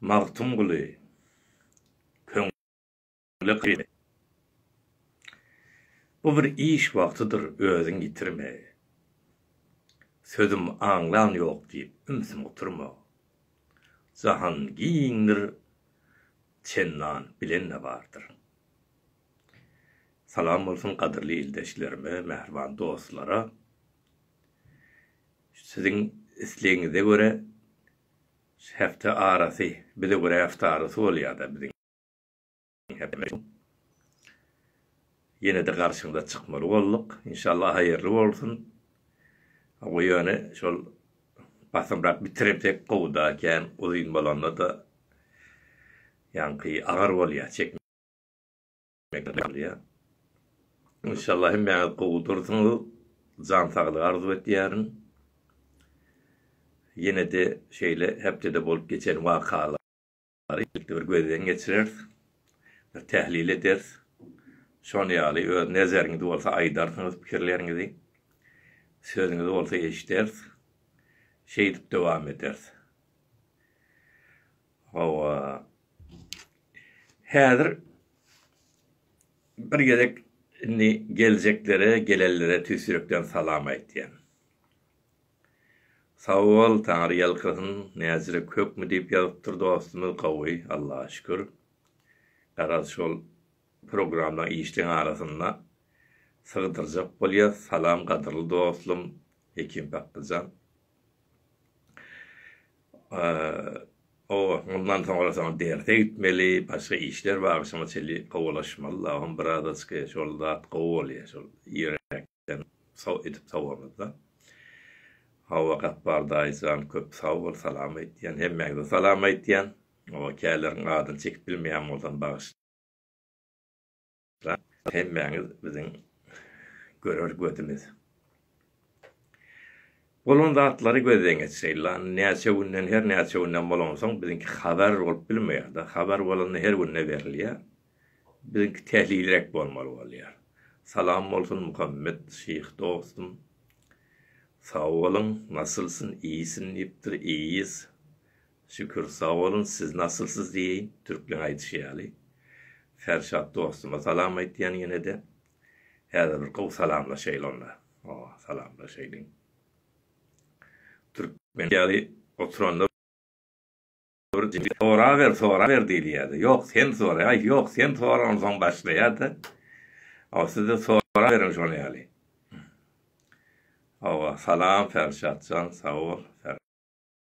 Magtymguly, köňle kyrme. Bu bir iş wagtydyr, özüň ýitirme. Sözüm aňlan ýok diýip, ümsüm oturma. Jahan giňdir, çendan bilen-de bardyr. Salam bolsun gadyrly ildeşlerime, mähriban dostlara. Siziň islegiňize görä hepde arasy, bize görä hepde arasy bolýada biziň Ýenede garşyňyza çykmaly bolduk. Inşallah haýyrly bolsun. Goý ýöne şol basymrak bitiremsek gowuda, kän uzyn bolanda-da ýaňky agyr bolýa, çekmäge. Inşallah hemmäňiz gowy dursuňyz. Jan saglygy arzuw etýärin. Ýene-de şeýle hepdede bolup geçen wakalary birlikde bir gözden geçireris. Bir tählil ederis. Şon ýaly öz nezeriňiz bolsa aýdarsyňyz pikirleriňizi. Sözüňizi bolsa eşideris. Şeýdip dowam ederis. Hawa. Häzir bir gezek indi geljeklere, gelenlere tüýs ýürekden salam aýtýan. Sag bol, Taňry ýalkasyn. Näzirek hökmi diýip ýazypdyr dostumyz, gowy, Allaha şükür. Garaz şol programlaň işleň arasynda sygdyrjak bolýas. Salam gadyrly dostum Hekim Paklyjan. O, mundan soňrasyna derse gitmeli, başga işler bar, şoňa çenli gowalaşmaly lagym, birazaçka şol zat gowy bolýar, şol ýürekden sag edip sowamyzda. Hawa, Gapbar daýy jan, köp sag bol, salam aýtýan, hemmäňize salam aýtýan. O, käleriň adyny çekip bilmeýän bolsam, bagyşlaň. Rap hemmäňiz biziň görer gözümiz. Bolan zatlary gözden geçireýin lan näçe günden her näçe günden bolansoň biziňki habar bolup bilmeýärda habar bolanda her günde berilýär biziňki tehlilrek bolmaly bolýar Salam bolsun Muhammet şyh dostum sag boluň nasylsyn iýsin diýipdir iýýs Şükür sag boluň siz nasylsyz diýeýin türkleň aýdyşy ýaly. Ferşat dostuma salam aýtýan ýenede. Häzir bir gowy salamlaşaýyl onda. Ho salamlaşaýylyň. Türkmen ýaly oturanda soraber soraber diýilýärdi. Ýok sen soraý aý ýok sen sora onsoň başlaýardy. Ho sizde soraberiň şol ýaly. Hawa salam Ferşatjan sag bol.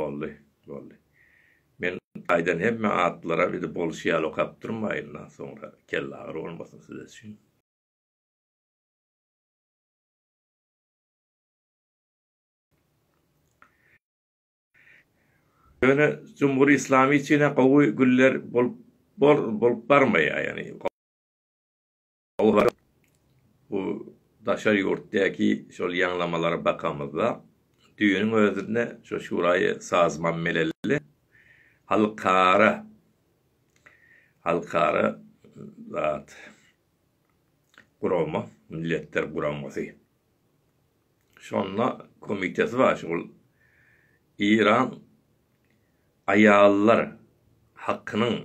Boldy, boldy. Men aýdan hemme atlara bir-de bolşy ýaly okap durmaýyn, soňra kellagyry bolmasyn size üçin. Ýöne Jumhury Islamy üçin-ä gowy günler bolup barmaýar, ýagny. Gowy haryt. Bu daşary ýurtdaky şol ýaňlamalara bakamyzda, düýnüň özünde şu Şuraýy sazman melelli halkara halkara zat gurama, Milletler Guramasy. Şonda komiteti bar şol Eýran aýallar hakynyň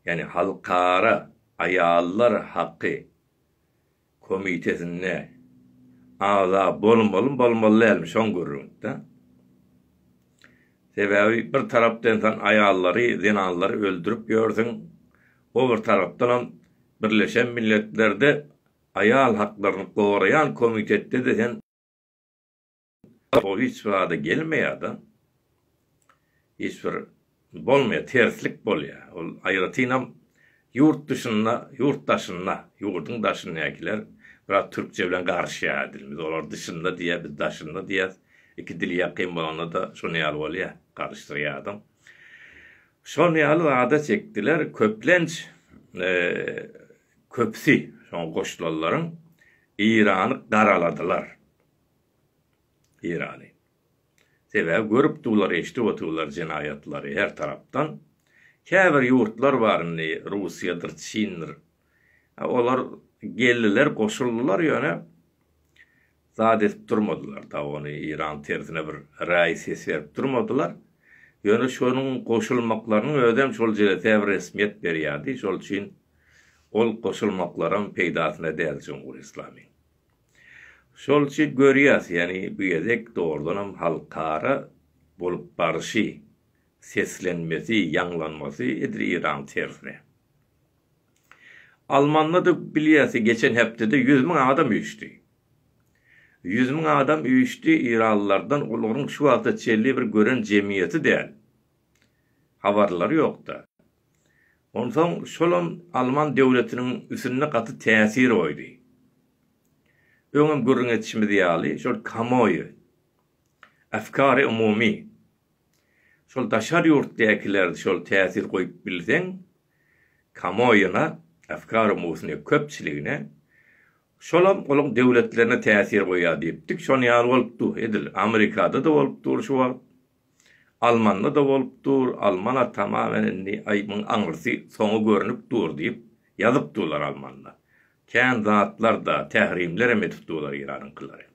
ýani halkara aýallar haky komitetinde agza bolmalymy bolmaly dälmi şoň gürrüňtda. Sebäbi bir tarapda ensan aýallary zenanlary öldürip ýörsüň o bir tarapdanam birleşen milletlerde Aýal haklaryny goraýan komitetde-de sen hiç bir zada gelmeýärda. Hiç bir bolmaýar, terslik bolýar. Ol aýratynam ýurt dyşynda, ýurt daşynda, ýurduň daşyndakiler biraz türkçe bilen garyşýar dilimiz. Olar dyşynda diýýär, biz daşynda diýýäs. Iki dil ýakyn bolanda-da şonuň ýaly bolýar, garyşdyrýar adam. Şonuň ýaly zada çekdiler. Köplenç eee. Köpüsi, şoňa goşulanlaryň, Eýrany garaladylar. Eýrany. Sebäbi görüp durlar, eşidip otyrlar jenaýatlary her tarapdan. Käbir ýurtlar bar indi, Russiýadyr, Çindir. Olar geldiler, goşuldylar, ýöne zat edip durmadylar da ony Iran tersine bir raý ses berip durmadylar. Ýöne şonuň goşulmaklarynyň özem şol jelese bir resmiýet berýärdi, şol üçin ol goşulmaklaram peýdasyna däl Jumhur Islamiň. Şol üçin görýäs, ýagny bu gezek dogrudanam halkara bolup baryşy, seslenmesi, ýaňlanmasy edil Iran tersine. Almanyda bilýärsi geçen hepdede ýüz müň adam üýşdi. Ýüz müň adam üýşdi Yranlylardan olaryň şu wagta çenli bir gören jemgyýeti däl. Habarlary ýokda. Onsoň şolam Alman döwletiniň üsünde gaty täsir goýdy. Öňem gürrüň etişimiz ýaly şol kamoýy, efkary umumy. Şol daşary ýurtdakiler şol täsir goýup bilseň kamoýuna afkary musny köpçiligine şolam olaň döwletlerine täsir goýýar diýipdik şony ýaly bolup dur edil amerikada da bolup dur şu wagt almanda da bolup dur almana tamamen indi aý muň aňrysy soňy görünip dur diýip ýazyp durlar almanda kän zatlar da tährimlerem edip durlar iranyňkylary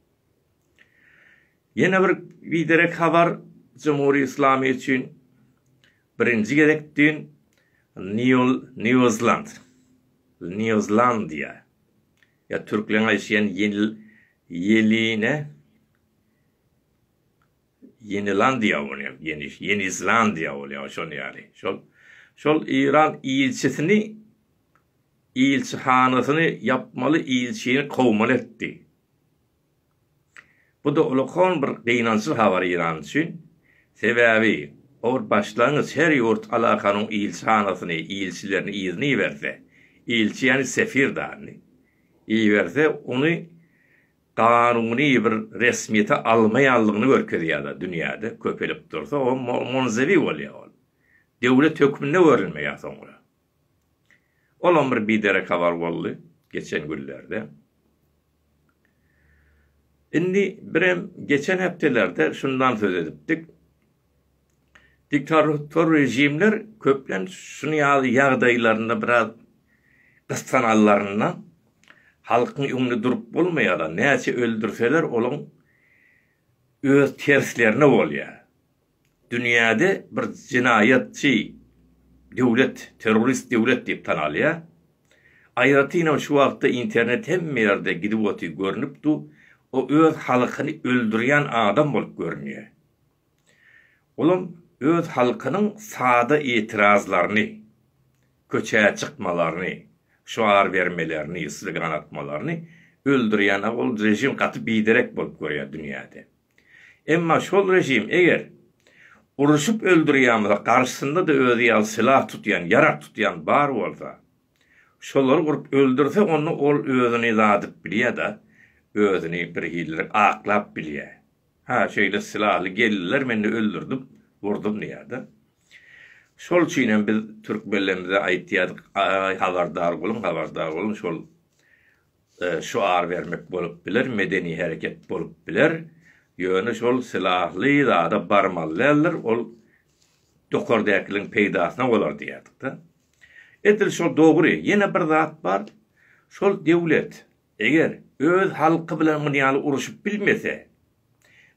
Ýene bir biderek habar Jumhur Islamy üçin birinji gezek düýn Nýuzland, Nýuzlandiýa, ýa türkleň aýşýan Ýeline, Ýenilandiýa bolýar, Ýeniş, Ýenizlandiýa bolýar, şol ýaly, şol, şol Eýran ilçisini, ilçihanasyny ýapmaly, ilçini kowmaly etdi. Bu da ulakon bir gynançly habar Iran üçin. Sebäbi or başlangyç her ýurt alakanyň ilçihanasyny, ilçilerini yzyna iberse, ilçi ýany sefir dany, iberse ony ganuny bir resmiýete almaýanlygyny görkezýärda dünýäde köpelip dursa o monzewi bolýa ol. Döwlet hökmünde görülmeýä soňra. Olam bir biderek habar boldy geçen günlerde. Indi birem geçen hepdelerde şundan söz edipdik. Diktator rejimler köplenç şuny ýaly ýagdaýlarynda biraz gyssananlarynda halkyň öňünde durup bolmaýar-a, näçe öldürseler olaň öz terslerine bolýar. Dünýäde bir jenaýatçy döwlet, terrorist döwlet diýip tanalýar. Aýratynam şu wagtda internet hemme ýerde gidip oty görnüp du, o öz halkyny öldürýän adam bolup görünýär. Olam öz halkynyň sada etirazlaryny, köçä çykmalaryny, şuar bermelerini, slogan atmalaryny öldürýän ol režim gaty biderek bolup görýär dünýäde. Emma şol režim eger uruşyp öldürýämize garşysynda-da özi ýaly sylah tutýan, ýarag tutýan bar bolsa, şolary urup öldürse onda ol özüni zadyp bilýä-da, özüni bir hililik aklap bilýä. Hä, şeýle sylahly geldiler men-de öldürdim, urdum diýär-de. Şol üçin hem biz türkmenlerimize aýtýardyk, Aý, habardar boluň, habardar boluň, şol, şuar bermek bolup biler, medeni hereket bolup biler, ýöne şol sylahly zada barmaly däldir, ol dokardäkiligiň peýdasyna bolar diýýärdik-de. Edil şol dogry, ýene bir zat bar, şol döwlet eger öz halky bilen muny ýaly uruşyp bilmese,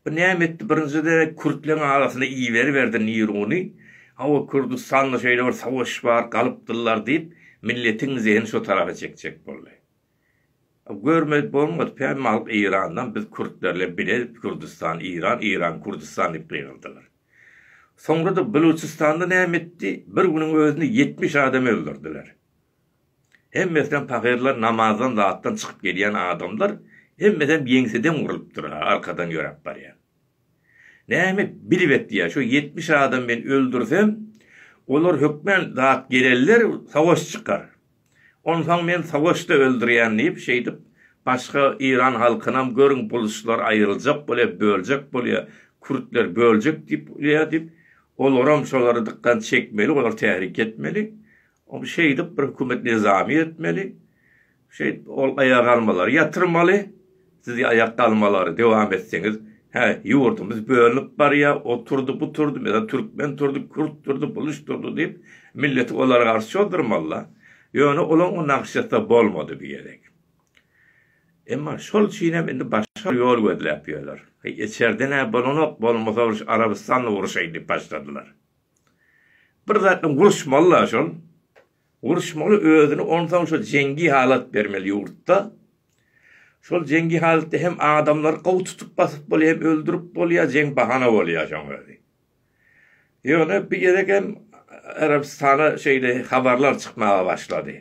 Bu näme etdi? Birinji derek kürtleň arasyna iberiberdi Niruny. Hawa, Kürdüstanda şeýle bir savaş bar, galypdyrlar diýip, milletiň zehini şo tarapa çekjek boldy. Görmez bolmady, päm alyp Eýrandan biz kürtlerle bile Kürdüstan, Eýran, Eýran, Kürdüstan diýip gygyrdylar. Soňra-da Buluçystanda näme etdi? Bir günüň özünde ýetmiş adam öldürdiler. Hemmesem pagyrlar namazdan zatdan çykyp gelýän adamlar hemmesem ýeňseden urlypdyr ha arkadan ýöräp barýan. Näme bilip etýär şo ýetmiş adam men öldürsem olar hökmän zat gelerler savaş çykar. Onsaň men savaşda öldürýän diýip şeýdip başga Iran halkynam görüň buluslar aýryljak bolýar böljek bolýar kürtler böljek diýip bolýar diýip olaram şolary dykkan çekmeli olar tärik etmeli Ol şeýdip bir hökümet nizamy etmeli, şeýdip ol aýagalmalary ýatyrmaly, siz aýakgalmalary dowam etseňiz, hä ýurdumyz bölünip barýa, o turdy, bu turdy, meselem türkmen turdy, kürt turdy, buluç turdy diýip milleti olara garşy çozdurmaly-da. Ýöne olaň o nagşasy bolmady bu gezek. Emma şol üçinem indi başga bir ýol gözläp ýörler. Heý içerden-ä bolanok, bolmasa uruş Arabystanla uruşaý diýip başladylar. Bir zat bilen uruşmaly-la şol. Uruşmaly özüni onsoň şo jeňňi halat bermeli ýurtda. Şol jeňňi halatda hem adamlary gowy tutup basyp bolýa hem öldürip bolýa jeň bahana bolýa şoň özi. Ýöne bir gezek hem Arabystana şeýle habarlar çykmaga başlady.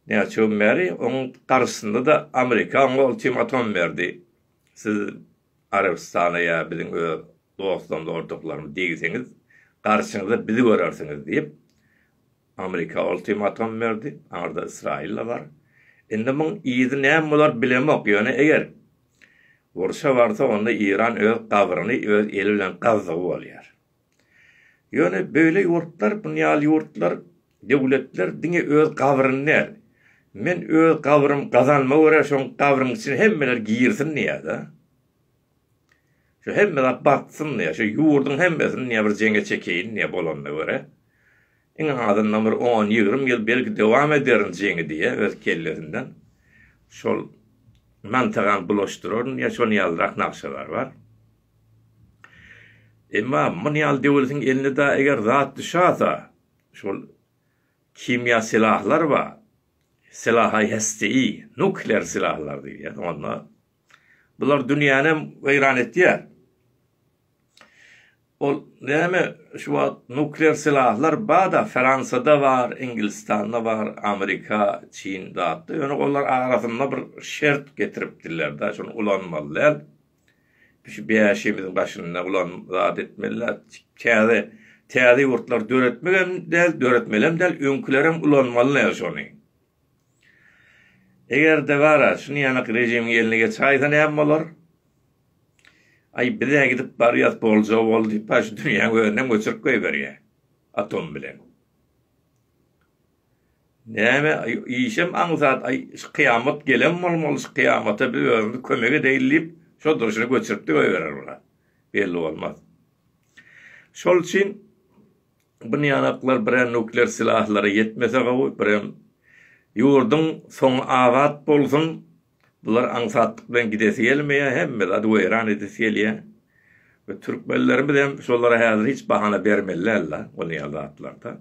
Näçe gün bäri oň garşysynda-da Amerika oňa ultimatom berdi. Siz Arabystana ýa biziň öz dostlarymyz-ordaklarymyz degseňiz, garşyňyza bizi görersiňiz diýip, Amerika ultimatum berdi, aňyrda Ysraýyl-da bar. Indi muň yzy näme bolar bilemok, ýöne eger urşa barsa, onda Iran öz gabryny öz eli bilen gazdygy bolýar. Ýöne beýle ýurtlar, bu ýaly ýurtlar, döwletler diňe öz gabryny däl, men öz gabrym gazanma görä şoň gabryň içine hemmeler girsin diýýärda. Şu hemme zat batsyn diýýär, şu ýurduň hemmesini diýýär bir jeňe çekeýin diýýär bolanyna görä. Iň azyndan bir on, ýigrimi ýyl belki dowam ederin jeňi diýýär öz kellesinden. Şol mantygam bulaşdyraryn diýýär, şoň ýalyrak nagşalar bar. Emma muny ýaly döwletiň eline dagy eger zat düşäsa, şol kimýa silahlar bar, silahy hesteýi, nuklear silahlar diýilýär, onda bular dünýäni hem weýran etýär. Ol näme şu wagt nuklear silahlar bar-da, Fransiýada bar, Inglistanda bar, Amerika, Çin zatda, ýöne olar arasynda bir şert getiripdirler-de, şuny ulanmaly däl. Şu bäşimiziň başynda bulan zat etmeliler. Täze täze ýurtlary döretmek hem däl, döretmeli hem däl, öňkülerem ulanmaly näme şony. Eger-de bara şuny ýanak režimiň eline geçäýse näme bolar? Aý bize gidip barýas bolja boldy, paş dünýäň özünden göçürip goýberýä atom bilen. Näme işem aňsat aý şu kyýamat gelen bolmaly şu kyýamata biz özümiz kömek edeýin diýip şo durşuna göçüripdi goýberer bula belli bolmaz. Şol üçin bu niýanaklar birem nukler silahlara ýetmese gowy birem ýurdyň soňy abat bolsun bular aňsatlyk bilen gidesi gelmeýär hemme zady weýran edesi gelýär we türkmenlerimiz hem şolara häzir hiç bahana bermeli däl la bolýan zatlarda.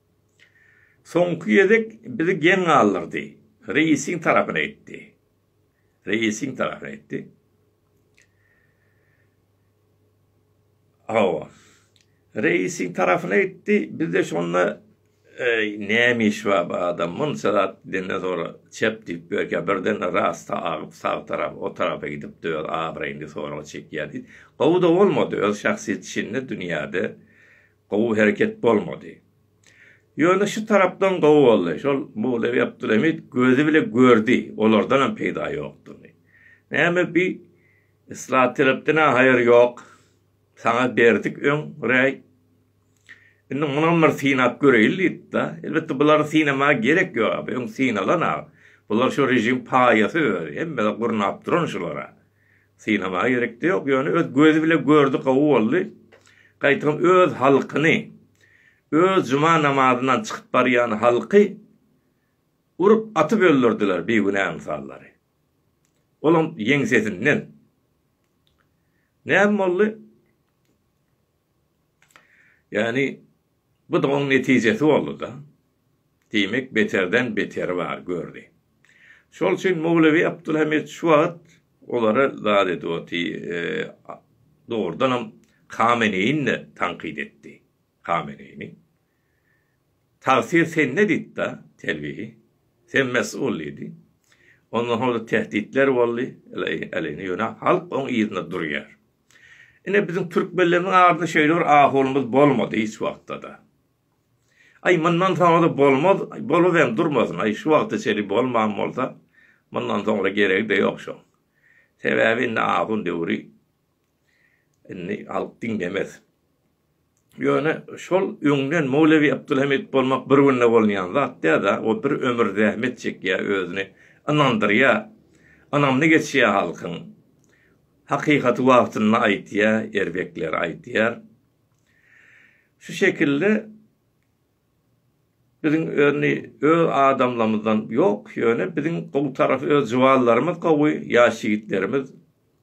Soňky gezek bizi geň galdyrdy. Reisiň tarapyna etdi. Reisiň tarapyna etdi. Hawa. Reisiň tarapyna etdi. Bizde şonda näme iş bar bu adam munça zat denden sonra çep diýip görkä birden rasta agyp sag tarap o tarapa gidip öz abraýyny sorag çekýärdi. Gowy-da bolmady öz şahsyýet içinde dünýäde Gowy hereket bolmady. Ýöne şu tarapdan gowy boldy. Şol Mowlewi Abdulhamid gözi bile gördi, olardanam peýda ýokdugyny. Näme bi Islat Terepden-ä haýyr ýok. Saňa berdik öň räý. Indi munam bir synap göreýin diýdi-de. Elbetde bulary synamaga gerek ýok-a, bu öň synalan-a. Bular şu režim paýasy özi, hemmede gurnap duran şular-a. Synamaga gerekde ýok ýöne öz gözi bile gördi gowy boldy. Gaýtam öz halkyny öz juma namazyndan çykyp barýan halky urup atyp öldürdiler bigünä ynsallary. Olam ýeňsesinden. Näme boldy? Ýagny, bu-da oň netijesi boldy-da. Diýmek, beterden beteri bar, gördi. Şol üçin Mowlewi Abdulhamid şu wagt olary zat edip oty, dogrudanam Kameneýini de tankyt etdi. Kameneýini. Tagsir sende diýdi-de, Telwihi. Sen mes'ul diýdi. Ondan soň-da tähditler boldy, ýöne halk oň yzynda durýar. Ine biziň türkmenlerimiň arasynda şeýle bir ahunymyz bolmady hiç wagtda-da. Aý mundan soňra-da bolmaz, bolup hem durmasyn, aý şu wagta çenli bolman bolsa, mundan soňra geregi-de ýok şoň. Sebäbi indi ahun döwri, indi halk diňlemez. Ýöne şol öňden Mowlewi Abdulhamid bolmak bir günde bolunýan zat däl-ä, o bir ömür zähmet çekýär, özüni ynandyrýar, ynamly geçýär halkyň. Hakykaty wagtynda aýdýar, erbekleri aýdýar. Şu şekilde Biziň öni öz adamlamyzdan ýok ýöne biziň gowy tarapy öz juwanlarymyz gowy ýaş ýigitlerimiz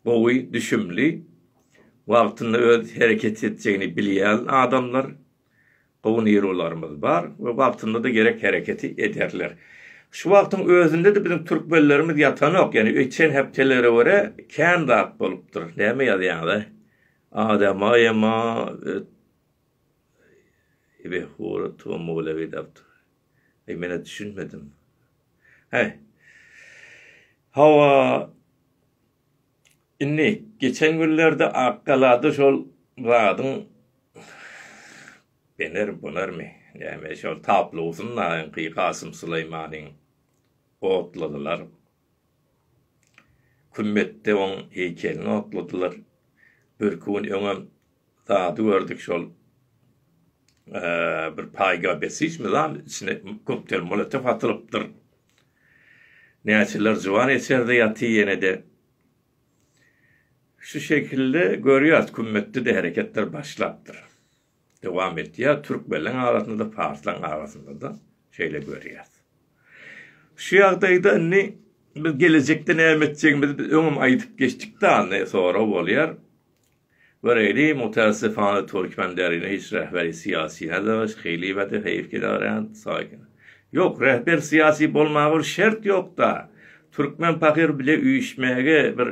gowy düşümli wagtynda öz hereket etjegini bilýän adamlar gowy nirularymyz bar we wagtyndada gerek hereketi ederler şu wagtyň özündede biziň türkmenlerimiz ýatanok ýöne öýtýän hepdelere görä kän zat bolupdyr näme ýazýaňyza adamaýama Ebe hora tomogula gidapdyr. Eý menä düşünmedim. He. Hawa. Indi geçen günlerde Akgalada şol zadyň bener bolarmy? Näme şol taplosynda Kasym Suleýmanyň otladylar. Kümmetde oň heýkelini okladylar. Birki gün öňem zady gördük şol bir paýga besicmi zal içine koktel molotow atylypdyr. Näçeler juwan eçerde ýaty ýenede. Şu şekilde görýäs kümmetde-de hereketler başlapdyr. dowam etýär. Türkmenleň arasynda-da, parslaň arasynda-da şeýle görýäs. Şu ýagdaýda indi biz gelejekde näme etjegimizi biz öňem aýdyp geçdik dany, sorag bolýar. Göräýli, mutassyfana türkmen derine hiç rähberi syýasy-da, şeýliba-da heýf gedarýan, saýgyn. Ýok, rähber syýasy bolmaga bir şert ýok-da. Türkmen pahyr bile üýşmäge bir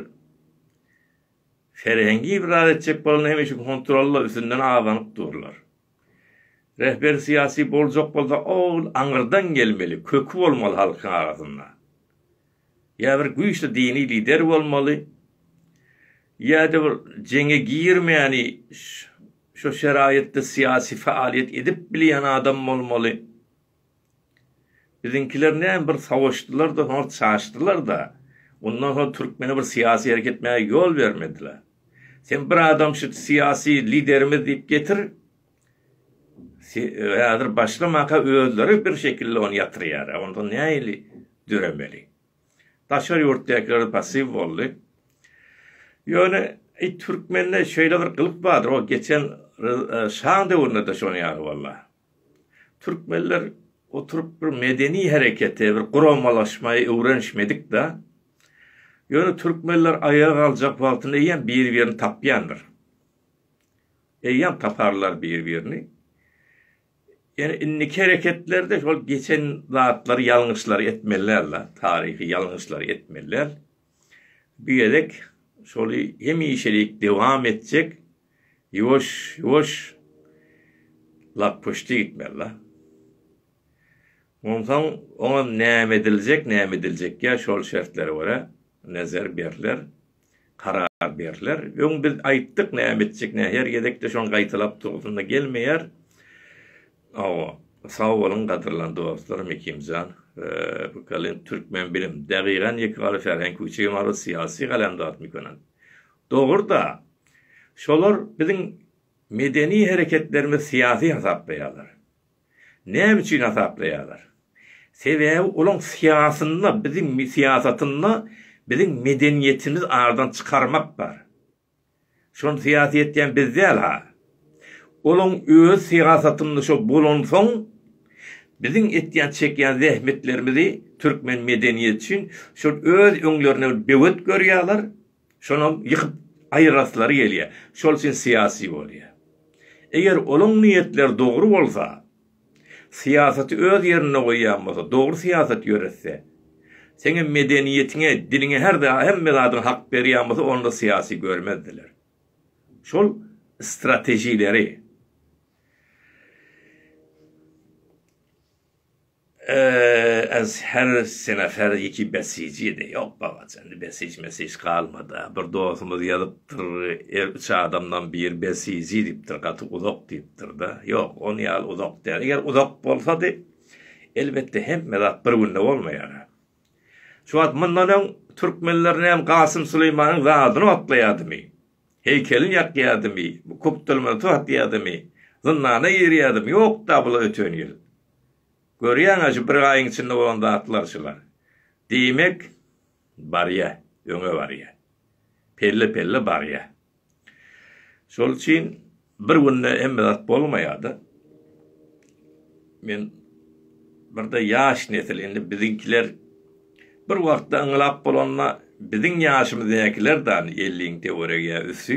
Serhengi ibraz etjek bolanda hemişe kontrolla üstünden abanyp durlar. Rehber syýasy boljak bolsa ol aňyrdan gelmeli, köki bolmaly halkyň arasynda. Ýa bir güýçli dini lider bolmaly, ýa-da bir jeňe girmäni şo şeraýatda syýasy faaliýet edip bilýän adam bolmaly. Biziňkiler näme bir savaşdylar-da, soňra çaşdylar-da. Ondan soň türkmene bir syýasy hereket etmäge ýol bermediler. Sen bir adam şu syýasy liderimiz diýip getir, häzir başlamaka özleri bir şekilli ony ýatyrýar. Onda nähili döremeli? Daşary ýurtdakylar pasiw boldy. Ýöne türkmende şeýle bir gylyk bardyr, o geçen şaň döwründe-de şonuň ýaly boldy. Türkmenler oturyp bir medeni herekete, bir guramalaşmaýa öwrenişmedik-de. Ýöne türkmenler aýaga galjak wagtynda eýýäm bir-birini tapýandyr. Eýýäm taparlar bir-birini. Ýöne indiki hereketlerde şol geçen zatlary, ýalňyşlary etmeli däl-de, taryhy ýalňyşlary etmeli däl. Bu gezek şoly hemişelik dowam etjek. Ýuwaş, ýuwaş. Lakpyşdy gitmeli-la. Onsoň oňa näme ediljek, näme ediljekkä şol şertlere görä nezer berler, karar berler. Öň biz aýtdyk näme etjek, nä her gezekde şony gaýtalap durasym-da gelmeýär. Hawa, sag boluň gadyrlan dostlarym Ekimjan, Pykalin, Türkmenbilim, Dagygan, Ýekebary Färhen Küçegimarow, Syýasy Galamdartmykonant. Dogry-da, şolar biziň medeni hereketlerimizi syýasy hasaplaýarlar. Näme üçin hasaplaýarlar? Sebäbi olaň syýasynda, biziň syýasatynda biziň medeniýetimizi aradan çykarmak bar. Şony syýasy etýän biz däl-ha. Olaň öz syýasatynda şo bolansoň, biziň etýän, çekýän zähmetlerimizi türkmen medeniýeti üçin şol öz öňlerine bir böwet görýärler, Şonuň ýykyp aýyraslary gelýär. Şol üçin syýasy bolýar. Eger olaň niýetleri dogry bolsa, syýasaty öz ýerinde goýýan bolsa, dogry syýasat ýöretse, seňem medeniýetiňe, diliňe her zat, hemme zadyňa hak berýän bolsa, onda syýasy görmezdiler. Şol stratejileri. Ee-ä-äs her sene her iki besijiýdi. Ýok babajan indi besij mesij galmada. Bir dosumyz ýazypdyr er üç adamdan biri besiji diýipdir gaty uzak diýipdirda. Ýok on ýaly uzak däl. Eger uzak bolsady elbetde hemme zat bir günde bolmaýar. Şu wagt mundan öň türkmenler näme Gasym Süleýmanyň zadyny otlaýadymy? Heýkelini ýakýadymy? Köpdülmezti atýadymy? Zyndana girýadymy? Ýokda bular öten ýyl. Görýäňä şu bir aýyň içinde bolan zatlar şular. Diýmek, barýa, öňe barýa. Pelle-pelle barýa. Şol üçin bir günde hemme zat bolmaýa-da. Men birde ýaş nesil, indi biziňkiler bir wagtda ynglap bolanda biziň ýaşymyzdakiler-de elliň töweregi ýa üsti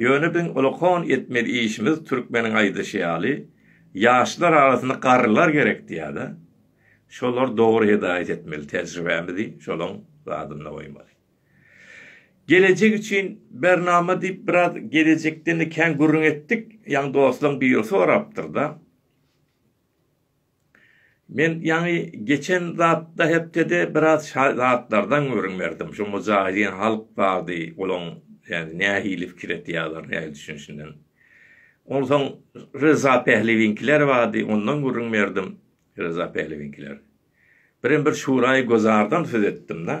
Ýöne biziň ulakon etmeli işimiz türkmeniň aýdyşy ýaly, ýaşlar arasynda garrylar gerek diýýädä, şolar dogry hedaýat etmeli, tejribämizi şolaň zadynda goýmaly. Gelejek üçin bernama diýip biraz gelejekden-de kän gürrüň etdik, ýaňy dostlaň biri sorapdyrda. Men ýaňy geçen zatda hepdede biraz şa zatlardan gürrüň berdim. Şu mujahidiň halk bardy, olaň ýany nähili pikir etýärler, nähili düşünişinden. Onsoň Ryza Pählewiňkiler bardy, ondan gürrüň berdim. Ryza Pählewiňkiler. Birem bir şuraý-gözardan söz etdim-de.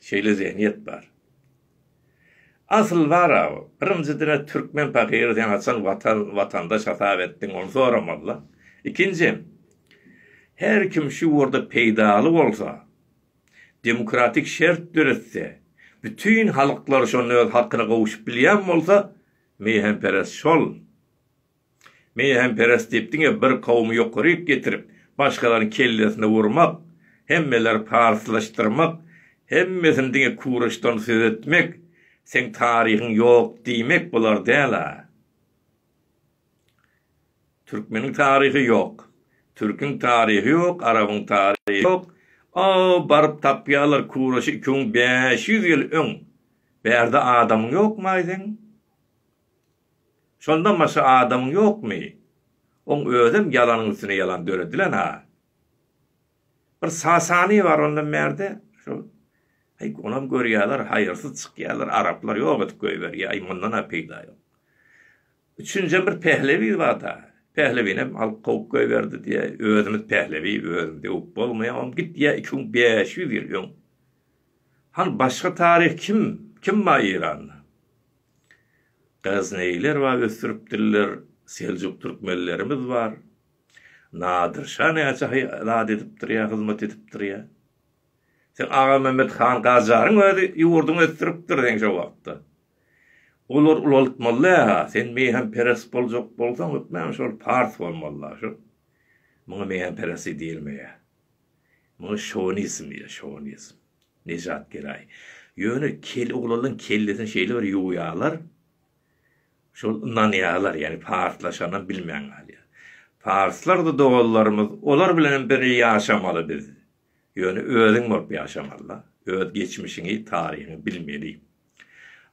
Şeýle zehniýet bar. Asyl bar a bu. Birinji diňe türkmen pahyry sen haçan watan watandaş hasap etdiň ony soramazlar. Ikinjiden her kim şu ýurda peýdaly bolsa, demokratik şert döretse, bütin halyklar şonda öz hakyna gowşup bilýän bolsa, meýhemperest şol. Meýhemperes diýip diňe bir kowumy ýokaryk getirip, başgalaryň kellesine urmak, hemmeleri parslaşdyrmak, hemmesini diňe kuraşdan söz etmek, seň taryhyň ýok diýmek bolar däl-a. Türkmeniň taryhy ýok. Türküň taryhy ýok, arabyň taryhy ýok. A-a baryp tapýarlar kuraşy iki müň bäş ýüz ýyl öň. Bärde adamyň ýokmy-aý seň? Şondan başga adamyň ýokmy? Oň özem ýalanyň üstüne ýalan döredilen-ha. Bir Sasany bar ondan bärde, şol. Aý, onam görýärler, haýyrsyz çykýarlar, araplar ýok edip goýberýär, aý, mundan-a peýda ýok. Üçünjem bir Pählebi bar-da. Pählebinem alyp kowup goýberdi diýýä. Özümiz Pählebi, özümizi öwüp bolmaýar, onam git diýýä iki müň bäş ýüz ýyl öň. Hany başga taryh kim? Kim bar Eýranda? Gaznaýylar bar ösdüripdirler, seljuk türkmenlerimiz bar. Nadir şa näçe hy zat edipdir ýa hyzmat edipdir ýa. Seň Agamämmet han Gajaryň özi ýurduňy ösdüripdir seň şo wagtda. Olar ulaltmaly ha, sen meýhemperes boljak bolsaň hökman şol pars bolmaly-la şu. Muňa meýhemperesi diýilmeýär. Muňa şownizm diýilýär, şownizm. Nejat gelaý. Ýöne kel oglanlaň kellesini şeýle bir ýuwýarlar. Şol ynanýarlar, ýagny parslaşanam bilmän galýar. Parslar-da doganlarymyz, olar bilenem birje ýaşamaly biz. Ýöne özüň bolup ýaşamaly-da. Öz geçmişiňi, taryhyňy bilmeli.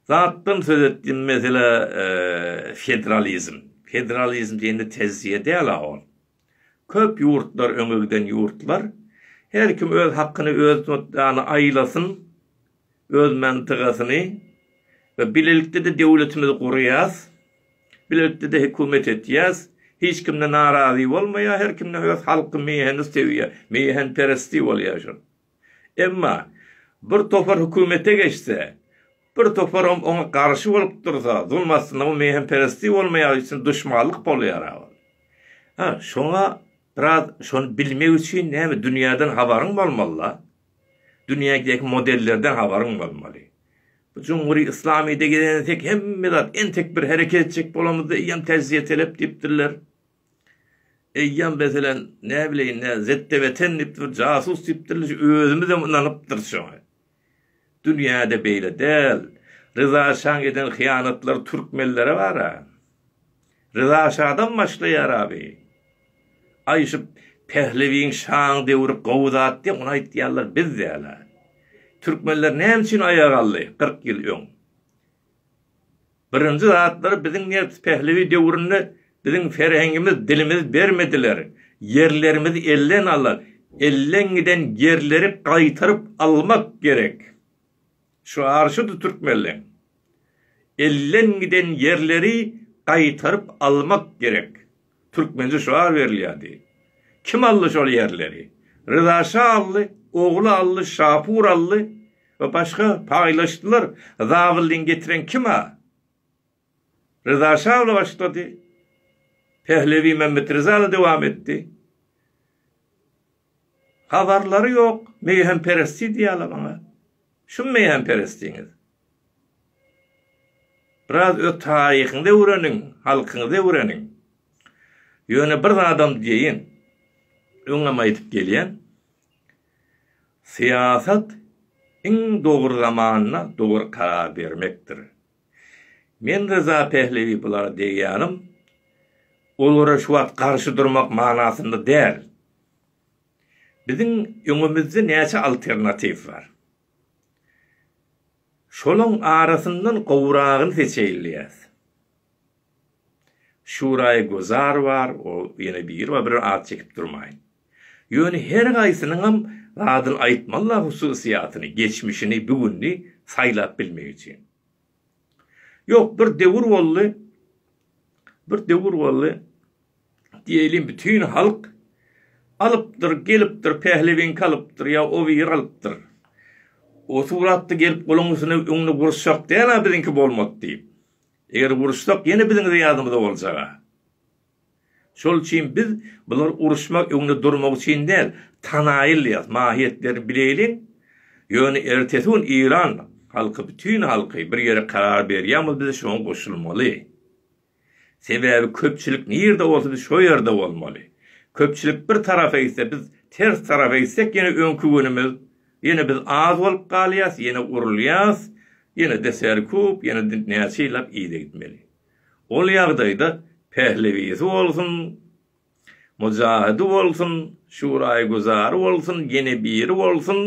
Zatdan söz etdim, meselä, federalizm. Federalizm diýende tejriýe däl-a ol. Köp ýurtlar öňe giden ýurtlar. Her kim öz hakyny özi tutýany aýlasyn öz mantyga'syny we bilelikdede döwletimizi gurýas bilelikdede hökümet etýäs hiç kimde narazy bolmaýa her kimde öz halky meýheni söýýä meýhen peresti bolýa şol. Emma, bir topar hökümete geçse, bir toparam oňa garşy bolup dursa, zulum astynda bu meýhemperestlik bolmaýagy üçin duşmanlyk bolýar-a ol. Hä, şoňa biraz şony bilmek üçin näme, dünýäden habaryň bolmaly-da. Dünýädäki modellerden habaryň bolmaly. Bu jumhury yslamyda gelen entek hemme zat, entek bir hereket etjek bolamyzda eýýäm täjiýe telep diýipdirler. Eýýäm meselem näbileýin nä ZTWTen diýipdir bir jasus diýipdirler şu özümizem ynanypdyrys şoňa. Dünýäde beýle däl. Ryza şaň eden hyýanatlary türkmenlere bara. Ryza şadan başlaýar abi. Aý şu Pählewiň şaň döwri gowy zat diýip ony aýtýarlar biz däla. Türkmenler näme üçin aýagaldy kyrk ýyl öň. Birinji zatlar biziň nebs Pehlewi döwründe biziň ferhengimiz dilimiz bermediler ýerlerimiz elden ala elden giden ýerleri gaýtaryp almak gerek şu arşydy türkmenleň elden giden ýerleri gaýtaryp almak gerek. Türkmence şuar berilýärdi. Kim aldy şol ýerleri? Ryza şa aldy, ogly aldy, Şapur aldy we başga paýlaşdylar. Zabyldyny getiren kim-a? Ryza şa bile başlady. Pehlewi Mämmetryza-da dowam etdi. Habarlary ýok meýhemperesti diýýäler oňa. Şum meýhemperestiňiz? Biraz öz taryhyňyzy öwreniň, halkyňyzy öwreniň. Ýöne bir zadam diýeýin. Öňem aýdyp gelýän. Syýasat iň dogry zamanda dogry karar bermekdir. Men Ryza Pählewi bulara degýänim, olara şu wagt garşy durmak manasynda däl. Biziň öňümizde näçe alternatiw bar. Şolaň arasyndan gowragyny seçeýilýär. Şuraý Gozar bar, o ýene biri bar, bir at çekip durmaýyn. Ýöne her haýsynyňam zadyny aýtmalla hususyýatyny, geçmişini, bu gününi saýlap bilmek üçin. Ýok, bir döwür boldy, bir döwür boldy, diýeýlin bütin halk alypdyr, gelipdir, pählewiňki alypdyr ýa o biri alypdyr. O suratda gelip goluň üstüne öňüne guruşjak däl-a biziňki bolmady diýip. Eger guruşsak ýene biziň ýadymyza boljag-a. Şol üçin biz bular uruşmak öňde durmak üçin däl, tanaýylýas, mahiýetlerini bileýliň, ýöne ertesi gün Iran halky bütin halky bir ýere karar berýämiz biz şoňa goşulmaly. Sebäbi köpçülik nirde bolsa biz şo ýerde bolmaly. Köpçülik bir tarapa gitse biz ters tarapa gitsek ýene öňki günümiz ýene biz az bolup galýas ýene urulýas ýene de serkup ýene de näçe ýyllap yza gitmeli. Ol ýagdaýda Pählewisi bolsun, Mujahydy bolsun, Şuraýygüzary bolsun, ýene biri bolsun,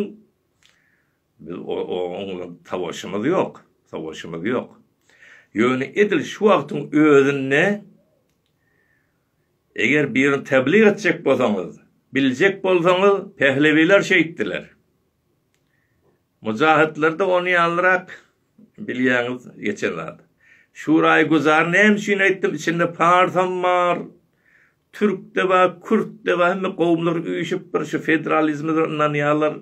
biz oň bilen savaşymyz ýok, savaşymyz ýok. Ýöne edil şu wagtyň özünde eger birini tablyk etjek bolsaňyz, biljek bolsaňyz, Pählewiler şeýtdiler. Mujahytlerde ony ýalyrak bilýäňiz geçen zat. Şuraýy güzar näme üçin aýtdym içinde parsam bar türkde bar kürtde bar hemme gowumlar üýşüp bir şu federalizme ynanýarlar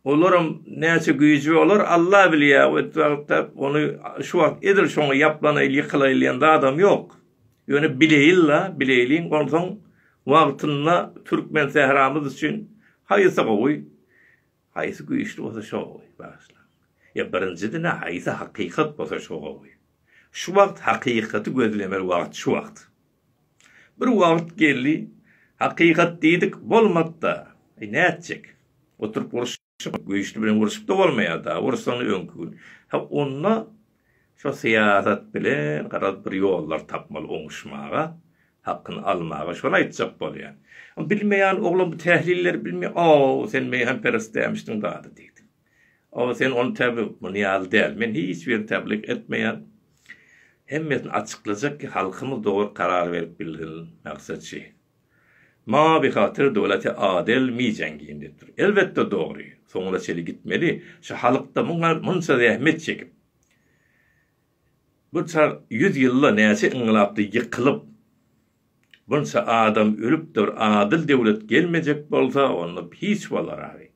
olaram näçe güýji olar Allah bilýär etdi wagtda ony şu wagt edil şoňa ýaplanaýyl ýykylaýyl diýen zadam ýok Ýöne bileýin-la, bileýliň, onsoň wagtynda türkmen sähramyz üçin haýsy gowy, haýsy güýçli bolsa şo gowy, bagyşlaň. Ýa birinjiden-ä haýsy hakykat bolsa şo gowy. Şu wagt hakykaty gözlemeli wagt şu wagt. Bir wagt geldi, hakykat diýdik, bolmady-da, eý nätjek. Oturyp uruş. Şo güýçli bilen urşup-da bolmaýar-da, ursaň öňki gün. Ha, onda şo syýasat bilen garaz bir ýollar tapmaly oňuşmaga, hakyny almaga, şony aýtjak bolýan. Bilmeýän oglan bu tählilleri bilmeýär. O-ow, sen meýhemperest dämişdiň zada diýdi. O, sen ony täbi, muny ýaly däl. Men hiç birini täblik etmeýän. Hemmesini açyklajak ki, halkymyz dogry karar berip bilsin, Maksatjy. Mawy hatyr dowlaty adel mi jangin depdir. Elbetde dogry. Soňuna çeli gitmeli. Şu halykda muňa munça zähmet çekip. Bu çar ýüz ýylda näçe yňlapdy ýykylyp. Bunça adam ölüpdir. Adyl döwlet gelmejek bolsa onda hiç bolar agy.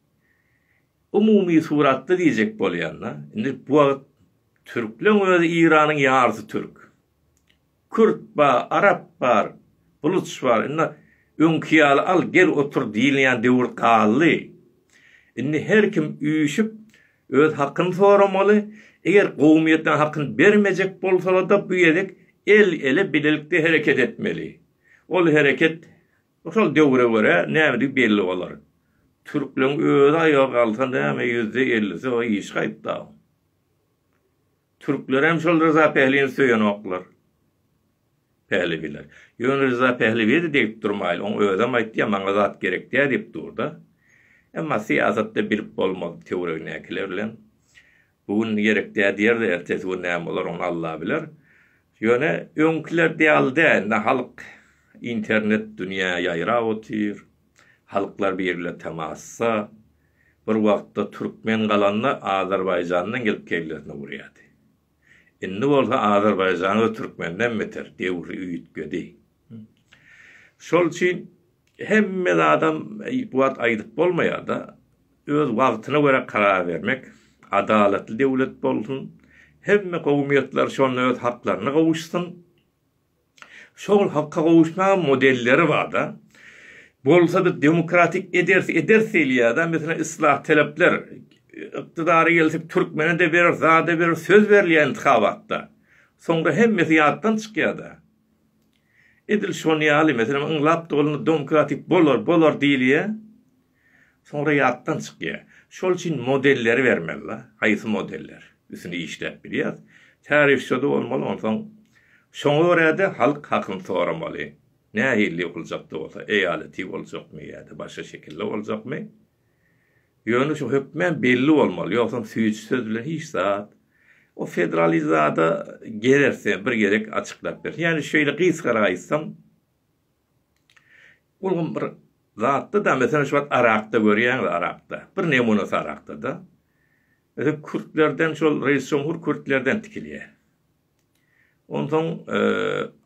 Umumy suratda diýjek bolýanda. Indi bu wagt türkleň özi Iranyň ýarysy türk. Kürt bar, arap bar, buluç bar. Indi öňki ýaly al, gel otur diýilýän döwür galdy. Indi her kim üýşüp, öz hakyny soramaly. Eger kowumyýetler hakyny bermejek bolsalar-da, bu gezek el-ele, bilelikde hereket etmeli. Ol hereket şol döwre görä nämedigi belli bolar. Türkleriň özi aýaga galsa näme ýüzde ellisi o işgaýtda. Türklerem şol Ryza Pählini söýenoklar. Pählebiler. Ýöne Ryza Pählebi-de degip durmaýly, oň özem aýtýa, maňa zat gerekdä diýip dur-da. Emma syýasatda bilip bolmaz töweregindäkiler bilen. Bu gün gerekdä diýer-de, ertesi gün näme bolar, ony Alla biler. Ýöne öňküler däli dä, indi halk internet dünýä ýaýrap otyr. Halklar birle temassa, bir wagtda türkmen galanda Azerbaýjandan gelip kellesine urýardy. Indi bolsa Azerbaýjanyz türkmenden beter döwri üýtgedi. Şol üçin hemme zadam bu wagt aýdyp bolmaýar-da, öz wagtyna görä karar bermek, adalatly döwlet bolsun, hemme kowumyýetler şonda öz haklaryna gowuşsun. Şol halka gowuşma modelleri barda bolsa biz demokratik ederis ederis diýilýärda meselem islah talepler ykdydary gelsek türkmene de bereris zada bereris söz berilýär intihabatda soňra hemmesi ýatdan çykýarda edil şony ýaly meselem ynlap doly domkratik bolar bolar diýilýär. Soňra ýatdan çykýa. Şol üçin modelleri bermeli la, haýsy modeller üsüni işläp bilýäs. Tarifçada bolmaly onsoň şoňa görä-de halk hakyny soramaly. Nähili ýokuljak-da bolsa, eýaleti boljakmy ýa-da başga şekilde boljakmy? Ýöne şu hökmän belli bolmaly, ýogsam süýji söz bilen hiç zat. O federalizada gererse bir gezek açyklap bersin. Ýagny şeýle gysgara aýtsam. Ulgam bir zatda-da, meselem, şu wagt arakda görýäňiz, arakda. Bir nemunasy arakda-da. Meselem, kürtlerden şol reýs jumhur kürtlerden tikilýär. Onsoň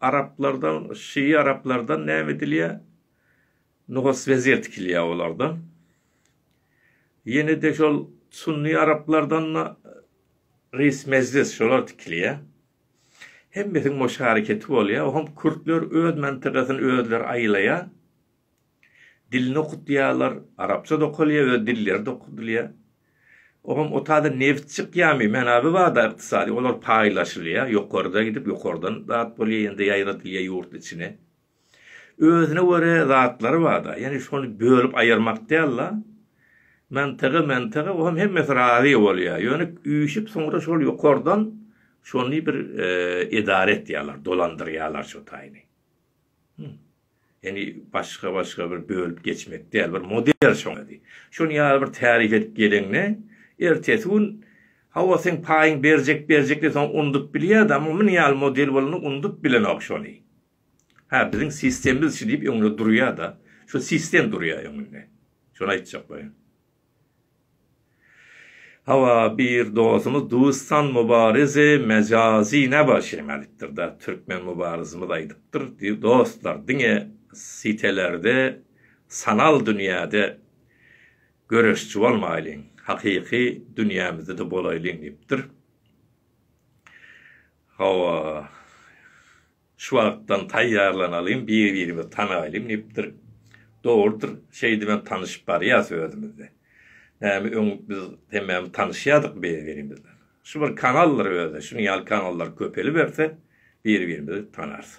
araplardan, şii araplardan näme edilýär? Nuhas wezir tikilýär olardan. Ýene-de şol sunny araplardan-da reýs mejlis şolar tikilýär. Hemmesiniň o şareketi bolýar. Oňam kürtler öz mantagasyny özleri aýlaýar. Dilini okudýarlar. Arapça-da okalýar, öz dilleri-de okudylýar. Oňam o taýdan nebit çykýarmy? Menaby bar-da ykdysady. Olar paýlaşylýar. Ýokarda gidip, ýokardan zat bolýar, ýa-da ýaýradylýar ýurt içine. Özüne göre zatlary barda, ýagny şony bölüp aýyrmak däl-de. Mantygy, mantygy o hem hemmesi razy bolýar. Ýöne üýşüp soňra şol ýokardan şony bir edara etýärler, dolandyrýarlar şo taýyny. Ýagny başga-başga bir bölüp geçmek däl, bir model şoň özi. Şony ýaly bir tärik edip geleňde, ertesi gün hawa seň paýyň berjek-berjek diýip soň unudyp bilýär-de, amma muny ýaly model bolanda unudyp bilenok şony. Hä, biziň sistemmiz şu diýip öňüne durýa-da, şu sistem durýa öňünde. Şony aýtjak boýun. Hawa, bir dostumyz Dustan Mubareze mejazy nä bar şeýme aýdypdyr-da, türkmen Mubarizimiz aýdypdyr, dostlar, diňe sitelerde, sanal dünýäde göreşçi bolmaýlyň, hakyky dünýämizde-de bolaýlyň diýipdir. Hawa, şu wagtdan taýýarlanalyň, bir-birimizi tanaýlyň diýipdir. Dogrudyr, şeýdip hem tanyşyp barýas özümiz-de. Näme öň biz hemmämiz tanyşýadykmy bir-birimiz bilen? Şu bir kanaldyr özi, şunuň ýaly kanallar köpeliberse, bir-birimizi tanarys.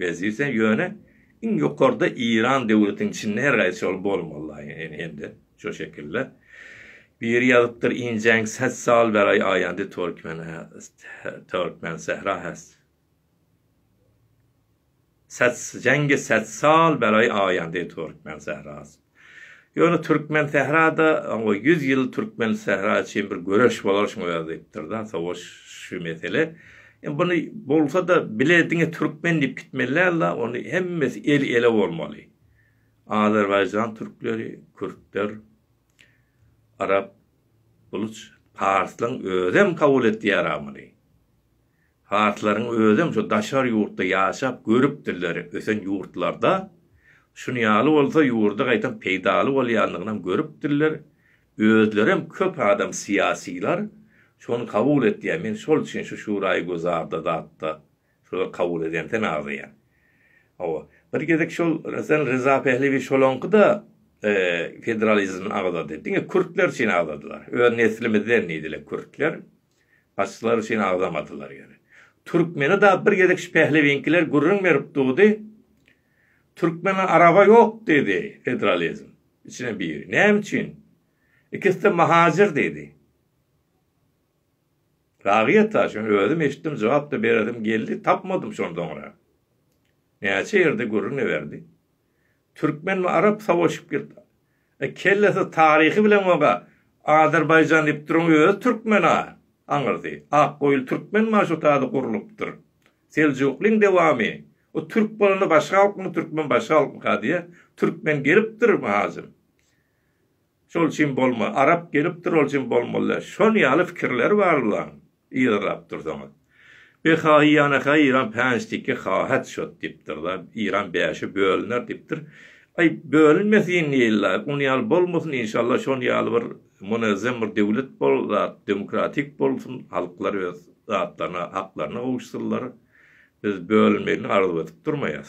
Wezipe ýöne iň ýokarda Iran döwletiň içinde her gaýsy şol bolmaly hemde şo şekilde. Biri ýazypdyr injeň ses sal beraý aýandy Turkmen Turkmen sehra has. Ses jenge ses sal beraý aýandy Turkmen sehrasy. Ýöne Türkmensährada oňa ýüz ýyl Türkmensähra üçin bir göreş bolar şuň özi diýipdir-da, sowaş şu mesele. Indi buny bolsa-da bile diňe türkmen diýip gitmeli däl-de, ony hemmesi el-ele bolmaly. Azerbaýjan türkleri, kürtler, arap, buluç, parslaň özem kabul etýär-ä muny. Parslaryň özem şu daşary ýurtda ýaşap görüpdirler, ösen ýurtlarda şuny ýaly bolsa ýurda gaýtam peýdaly bolýanlygynam görüpdirler, özlerem köp adam syýasylar şony kabul etýär, men şol üçin şu şuraýy gözarda zatda şular kabul edemsen agzaýan. Hawa, bir gezek şol Resen Ryza Pehlewi şolaňkyda federalizmni agzady, diňe kürtler üçin agzadylar, öz neslimizden diýdiler kürtler. Başlar üçin agzamadylar ýeri. Türkmeni-da bir gezek şu pählewiňkiler gürrüň berip durdy. Türkmene araba ýok diýdi federalizm. Içinden biri. Näme üçin? Ikisi-de mahacyr diýdi. Ragyýet-a, şony özüm eşitdim, jogap-da beresim geldi, tapmadym şondan soňra. Näçe ýerde gürrüň-de berdi. Türkmen we arap savaşyp girdi. E kellesi taryhy bilen oga Azerbaýjan diýip duruň özi türkmen a. Aňyrdy. Ak goýul türkmen ma şu taýda gurlupdyr. Seljuklyň dewamy. O türk bolanda başga halkmy türkmen başga halkmyka diýä. Türkmen gelipdir Muhajym. Şol üçin bolma, arap gelipdir ol üçin bolmaly däl. Şon ýaly pikirleri bar bulaň. Yzarlap dursaňyz. Behaý ýanakaý Iran päns tiki hahat şot dipdirda. Iran bäşe bölüner dipdir. Aý bölünmesin ýylla. Ony ýaly bolmasyn inşallah şon ýaly bir munazzam bir döwlet bol zat demokratik bolsun halklar öz zatlaryna haklaryna gowuşsynlar. Biz bölünmegini arzuw edip durmaýas.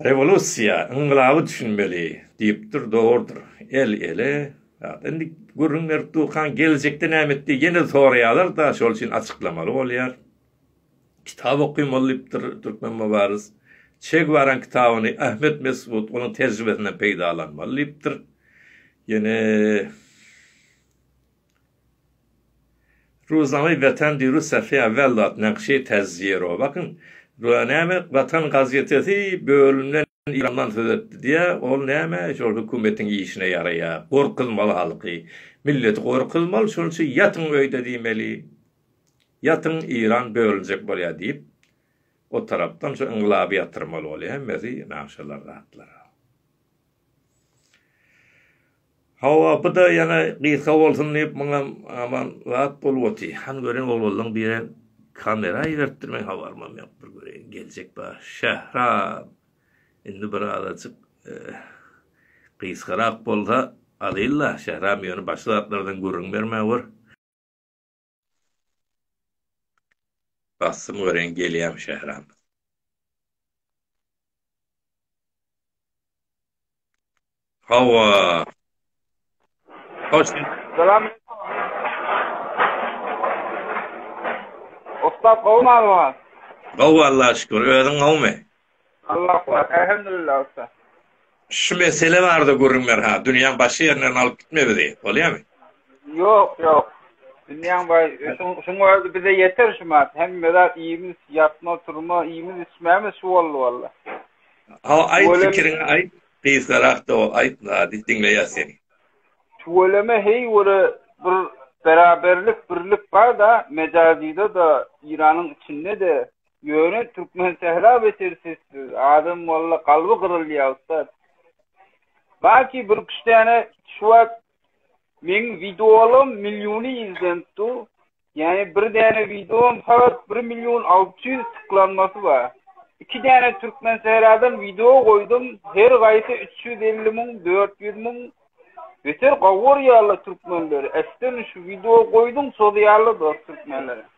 Rewolýusiýa, yngylaby düşünmeli diýipdir, dogrudyr. El ele, ýa-da indi gürrüň berip durkaň geljekde näme etdi ýene soraýarlar-da, şol üçin açyklamaly bolýar. Kitap okymaly diýipdir türkmen mübariz. Çe Gwaranyň kitabyny Ahmet Mesut onuň tejribesinden peýdalanmaly diýipdir. Ýene. Ruzany Watan dýru safy awwalla nakşi tazziýro bakyn, Ruzany näme Watan gazetesi bölümden Eýrandan söz etdi diýä, ol näme şol hökümetiň işine ýaraýa, gorkuzmaly halky, milleti gorkuzmaly şonuň üçin ýatyň öýde diýmeli, ýatyň Eýran bölünjek bolýa diýip o tarapdan şu yngylaby ýatyrmaly bolýa hemmesi nagşalar zatlar. Hawa, bu-da ýene gysga bolsun diýip, muňam aman zat bolup oty. Han gören oglanlaň biri kamera iberipdir, meň habarymam ýok. Bir göreýin, geljek bar. Şähram! Indi bir azajyk gysgarak bolsa alyl-la, Şähram ýöne başga zatlardan gürrüň bermä gör. Bassym göreýin gelýämi Şähram. Hawa. Hoş. Salam. Usta gowmy? Gowy Allaha şükür. Özüň gowmy? Allah bar Elhamdulillah ussat. Şu mesele barada gürrüň ber ha, dünýäň başga ýerine alyp gitme bizi, bolýamy? Ýok, ýok. Dünýäň baý, şuň özi bize ýeter şu mat. Hemme zat iýmit, ýatma, turma, iýmit, içmämiz şu boldy walla. Hawa, aýt pikiriňi aýt, gysgarak da bol, aýt zady, diňleýäs seni. Tüweleme heý göre bir beraberlik, birlik bar-da, Mejazide-de, Iranyň içinde-de, Ýöne Türkmensähra beter sessiz. Adam walla kalby gyrylýa ussat. Baki bir üç däne şu wagt meň videolarym milliony izlenip dur. Ýani bir däne videom sagat 1 million 600 tyklanmasy bar. Iki däne Türkmensähradan video goýdum. Her gaýsy 350 müň 400 müň. Beter gowurýarlar türkmenleri. Äsdin şu video goýdum sozýarlar dost türkmenleri.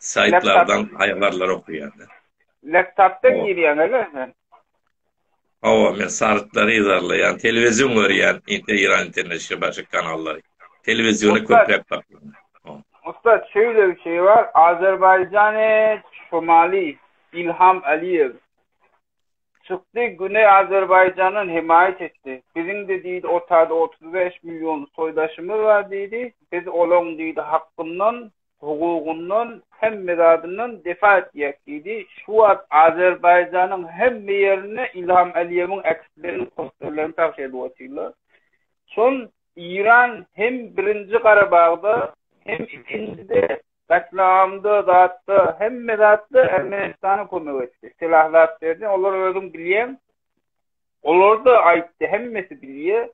Saýtlardan haýbarlar okaýarda. Laptopdan girýäň ele sen? Hawa, men sarytlary yzarlaýan, telewizion görýän, inte Iran internet şe başga kanallary. Telewiziony köpräk saklaýan. Ussat şeýle bir şeý bar, Azerbaýjany Şomali Ilham Aliýew çykdy Güneý Azerbaýjandan hemaýat etdi. Biziňde diýdi otada otuz bäş million soýdaşymyz bar diýdi, biz olaň diýdi hakkyndan Hukugyndan, hemme zadyndan defa etjek diýdi. Şu wagt Azerbaýjanyň hemme ýerinde Ilham Aliýewiň äkit beren posterlerini pagş edip otyrlar. Şol Iran hem birinji Garabagda, hem ikinjide gatlamda, zatda, hemme zatda Ermenistana kömek etdi. Silah zat berdi. Olar özüň bilýäň. Olar-da aýtdy, hemmesi bilýär.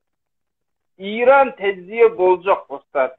Iran tejribe boljak ussat.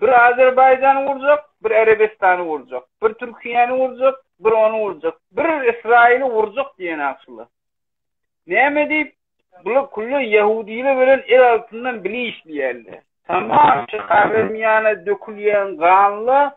Bir Azerbaýjany urjak, bir Erebistany urjak, bir Türkiýäni urjak, bir ony urjak, bir Ysraýyly urjak diýen akylly. Näme diýip, bular külli ýahudylar bilen el altyndan bile işleýärler. Tamam çykabermýäne dökülýän ganla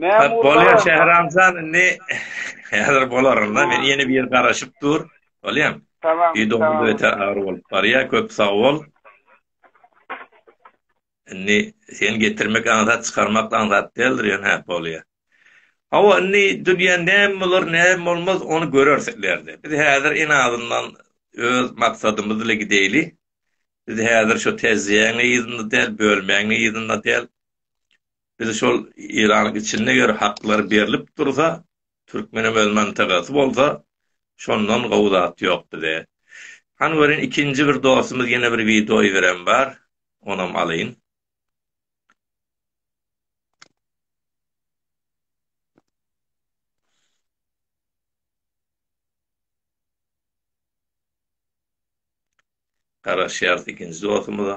Mämur Bolýar Şähramjan indi häzir bolarynda men ýene bir ýer garaşyp dur. Bolýam. Tamam. Ýüdüňde öte agyr bolup barýar. Köp sag bol. Indi sen getirmek aňsat çykarmak aňsat däldir ýöne hä bolýar. Hawa indi dünýä näme bolar näme bolmaz ony göreris ilerde. Biz häzir en azyndan öz maksadymyz ile gideýli. Biz häzir şu tezýäň yzynda däl bölmäň yzynda däl. Biz şol Eýranyň içinde eger haklar berlip dursa, türkmenem öz mantagasy bolsa, şondan gowy zat ýok bize. Hany görýin ikinji bir dostumyz ýene bir wideo iberem bar, onam alyň. Garaşýarys ikinji dostumyza.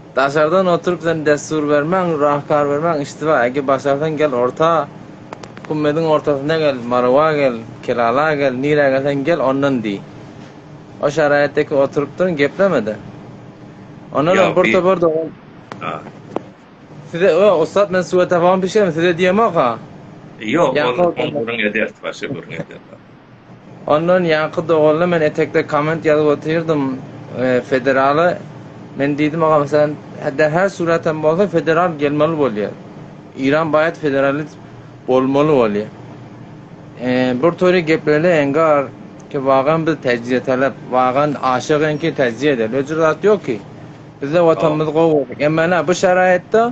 Daşardan oturyp sen dessur bermäň, rahkar bermäň işdiba, ege başarsaň gel orta, Kummediň ortasyna gel, Marywa gel, Kelala gel, nirä gelseň gel ondan diý. O şaraýatdaki oturypdyryň geplemede. Ondan hem bir topar dogan. Ha. Size o ussat men suwa tabagyny bişirem size diýemok-a. Ýok, ol gürrüň ederis, başga gürrüň ederis. Ondan ýaňky doganda men etekde komment ýazyp otyrdym federala. Men diýdim agam sen hedde her surat hem bolsa federal gelmeli bolýar. Iran baýat federalist bolmaly bolýar. Eee bir toýda geplele engar ki wagan biz tejriýe talap wagan aşyk enki tejriýe edeli öcür zat ýok ki. Bizde watanymyz gowy bolsun. Emma ene bu şaraýatda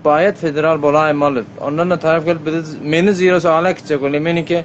baýat federal bolaýmaly. Ondan da talap gelip bizi meni zirosy ala kitjek bolýar meniki.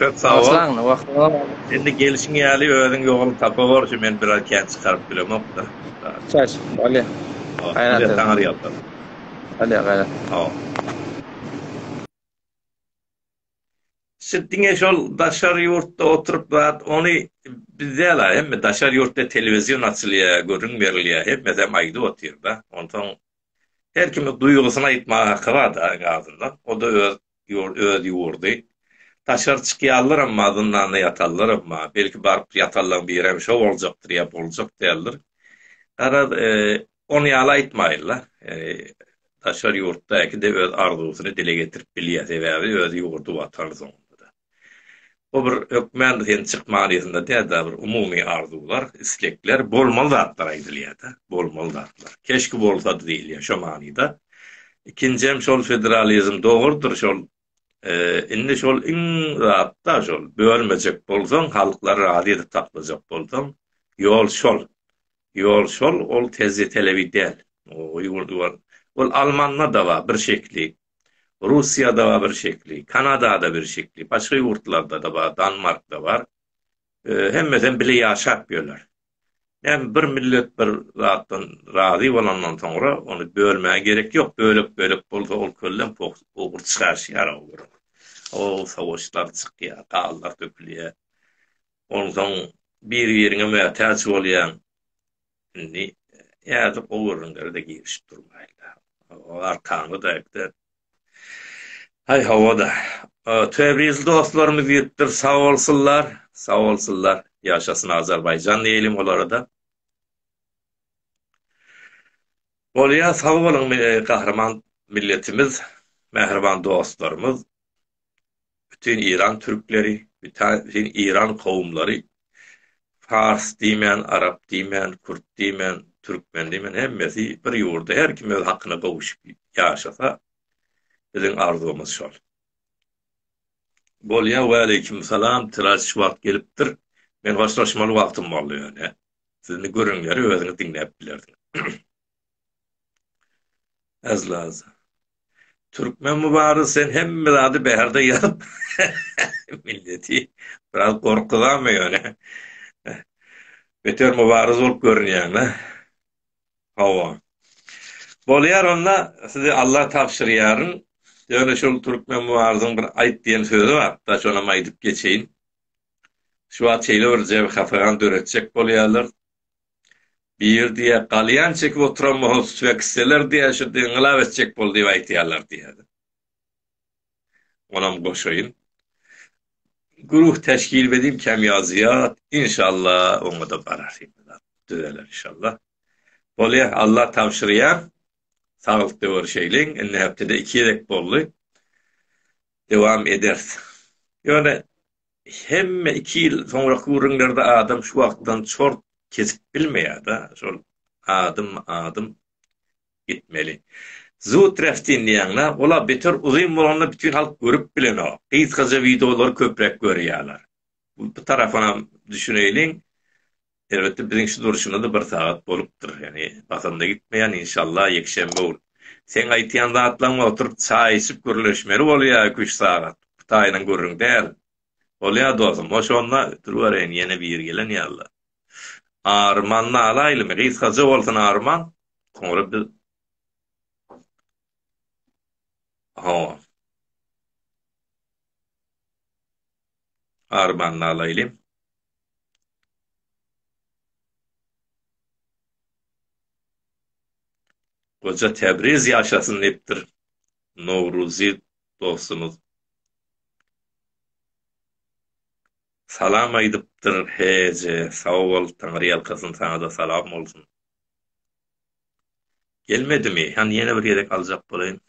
Köp sag bol. Başlangyny wagtyňda bardym. Indi gelşiň ýaly özüň ýoluň tapawor şu men biraz kän çykaryp bilemokda. Çaş, bolýa. Gaýrat et. Taňar ýalkasyn. Bolýa gaýrat. Sag Siz diňe şol daşary ýurtda oturyp zat ony biz däl a hemme daşary ýurtda telewizion açylýa gürrüň berilýa hemmesem aýdyp otyrda onsoň her kimi duýgusyny aýtmaga haky bar da iň azyndan o da öz Ýurt öz ýurdy. Daşary çykýallaram ma zyndanda ýatallaram ma. Belki baryp ýatallaň birem şo boljakdyr ýa boljak däldir. Garaz ony ýaly aýtmaýynla. Daşary ýurtdaky-de öz arzuwsyny dile getirip bilýä. Sebäbi öz ýurdy watany soňunda-da. Bu bir hökmändir sen çyk manysynda däl-de, bir umumy arzuwlar, islekler, bolmaly zatlar aýdylýar-da, bolmaly zatlar. Keşki bolsady diýilýär şo manyda. Ikinjem şol federalizm dogrudyr şol indi şol iň zat-da şol, bölmejek bolsaň, halklary razy edip saklajak bolsaň, ýol şol. Ýol şol, ol tejribe telebi däl. Ol almanda-da bar bir şekili, Russiýada-a bir şekli, Kanada-da bir şekli, başga ýurtlarda-da bar, Danmarkda bar. Hemmesem bile ýaşap ýörler. Näme bir millet bir zatdan razy bolandan soňra ony bölmäge gerek ýok, bölek-bölek bolsa ol köllem pogurt çykaryşýar o görüň. O sowaşlar çykýar, ganlar dökülýär. Onsoň biri-biriňe mätäç bolýaň. Indi ýazyk o gürrüňlere-de girişip durmaýyn-la. O arkanly daýakda Haý, hawa-da. Tebriz dostlarymyz ýetipdir, sag bolsunlar, sag bolsunlar. Ýaşasyn Azerbaýjan diýeýlim olara-da. Bolýar, sag boluň, gahryman milletimiz, mähriban dostlarymyz. bütin Iran türkleri, bütin Iran kowumlary, fars diýmän, arap diýmän, kürt diýmän, türkmen diýmän hemmesi bir ýurda her kim öz hakyna gowuşyp ýaşasa, biziň arzuwymyz şol. Bolýar, waleýkim salam, tiraž wagt gelipdir. Men hoşlaşmaly wagtym boldy ýöne. Siz indi gürrüňleri özüňiz diňläp bilersiňiz. Azlaza. Türkmen Mubarak sen hemme zady bärde ýazyp milleti biraz gorkuzama ýöne. Beter Mubarak bolup görünýäň da. Hawa. Bolýar onda sizi Allah tabşyrýaryn. Ýöne şol Türkmen Mubaragyň bir aýt diýen sözi bar. Da şonam aýdyp geçeýin. Şu wagt şeýle bir jebhasygan döretjek bolýarlar. Bir diýýär, galýan çekip oturan bolan Sfeksçiler diýýär, şo dini yngylyap etjek boldy diýip aýdýarlar diýýär. Onam goşaýyn. Guruh teşkil bediň kemýazyýat, inşalla oňada barar hemmedat. Düzeler inşalla. Bolýa, Allah tabşyrýar. Saglykda görüşeýliň. Indi hepdede iki gezek boldy. Dewam ederis. Ýöne Hemme iki ýyl soňraky gürrüňlerde adam şu wagtdan çort kesip bilmeýär-de, şol adym, adym gitmeli. Zu treftin diýýäň-le, ol-a beter uzyn bolanda bütin halk görüp bilenok. Gysgaja wideolary köpräk görýärler. Bu tarapynam düşüneýliň. Elbetde biziň şu durşumyzda bir sagat bolupdyr ýöne basanda gitmeýän inşallah ýekşenbe gün. Seň aýtýan zatlaň oturyp çaý içip gürleşmeli bolýa iki üç sagat Hytaýynyň gürrüň däl. Bolýa dosum hoş onda ötürbereýin ýene biri gelen ýaly. Armany alaýlymy gysgaja bolsun Arman soňra biz Hawa. Armany alaýly. Goja Tebriz ýaşasyn diýipdir Nowruzy dostumyz. Salam aýdypdyr HJ sag bol Taňyrýalkasyn saňada salam bolsun. Gelmedimi? Hany ýene bir gezek aljak bolaýyn.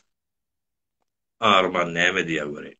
Arman näme diýýär göreýin.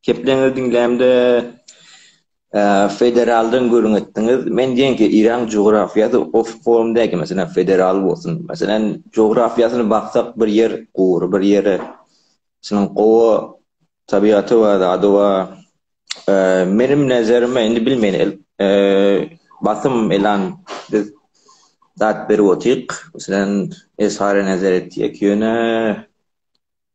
Kepleňizi diňlämde federaldan gürrüň etdiňiz. Men diýen ki, Yragyň jografiýasy o form däl ki, meselem, federal bolsun. Meselem, jografiýasyny baksak, bir ýer gury, bir ýeri şunuň gowa tabiaty bar, zady bar. Meniň nezerimde, indi bilmeýän, basym elan biz zat berip otyk. Meselem, Esara nezer etýek, ýöne.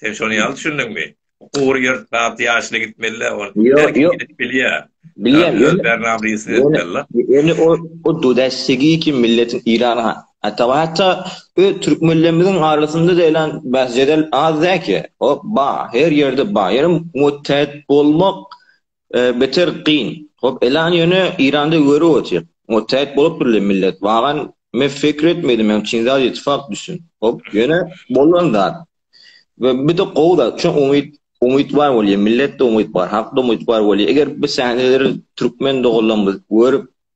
Sen şony ýaly düşündiňmi? Gugur ýer tat ýaşyna gitmeli-de, ol her kim gidip bilýär. Bilýän, öz bernamyny ýetirip bilmeli-de. Ýöne o huddy dessigi kim milletiň Eýrana, hatda-hatda öz türkmenlerimiziň arasynda-da elan bäs-jedel az däl ki. O bar, her ýerde bar. Ýöne muttehet bolmak Beter gyn. Hop elan ýöne Iranda görüp otyr. O täet bolup dur le millet. Wagan me fekir etmedim men çyn zat ýeti fakt düşün. Hop ýöne bolan zat. We bir de gowy zat şu umyt umyt bar bolýa milletde umyt bar hakda umyt bar bolýa eger bi sahneleri türkmen doganlarymyz görüp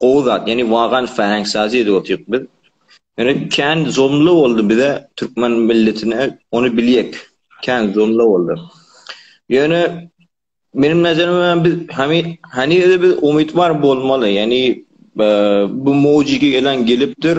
gowy zat, ýani wagan fäheng sazy edip otyryk biz. Ýöne kän zomla boldy bize, türkmen milletine, ony bilýek. Kän zomla boldy. Ýöne meniň nazaryma biz hany hanyze biz umytwar bolmaly. Ýani bu mowjygy gelen gelipdir.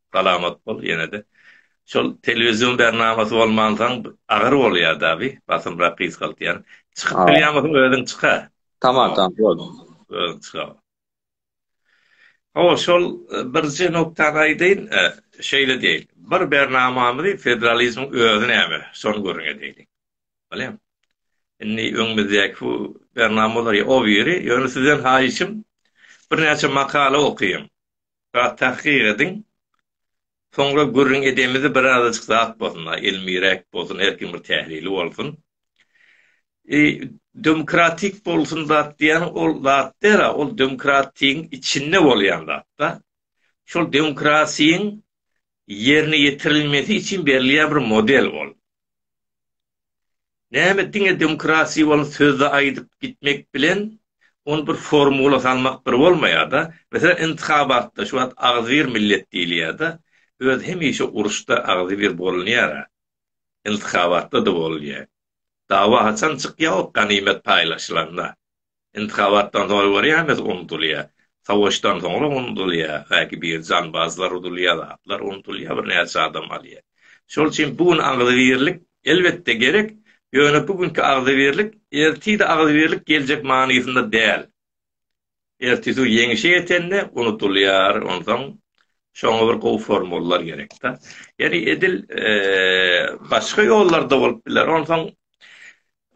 Salamat bol ýenede. Şol telewizion bernamasy bolmansaň agyr bolýar dabi basymrak gysgaltýan. Çykyp bilýäňosoň özüň çyka. Tamam tamam boldy. Özüň çyka. Hawa şol birje noktany aýdaýyn şeýle diýeýin. Bir bernamamyzy federalizmiň özi näme şony gürrüň edeýin. Bolýamy? Indi öňümizdäki bu bernama bolar ýa o biri ýöne sizden haýyşym birnäçe makala okyň. Bar tahkyk ediň. Soňra gürrüň edemizi birazajyk zat bolsun-a, ilmiräk bolsun, her kim bir tählili bolsun. E, demokratik bolsun zat diýýän ol zat däl-a, ol demokratiýiň içinde bolýan zat-da. Şol demokrasiýiň ýerine ýetirilmesi üçin berilýän bir model ol. Näme diňe demokratiýa bolan sözde aýdyp gitmek bilen ony bir formula salmak bir bolmaýada. Meselem intihabatda şu wagt agzybir millet diýilýada. Öz hemişe uruşda agzybir bolunýara. Intihabatda-da bolunýa. Dawa haçan çykýa ol ganymet paýlaşylanda. Intihabatdan soň görýäňiz unudylýar. Savaşdan soňra unudylýar. Belki bir janbazlar udulýar zatlar unudylýar bir näçe adam alýar. Şol üçin bu gün agzybirlik elbetde gerek. Ýöne bu günki agzybirlik ertide agzybirlik geljek manysynda däl. Ertisi ýeňişe ýetende unudylýar onsoň şoňa bir gowy formullar gerekda. Ýeri edil başga ýollarda bolup biler onsoň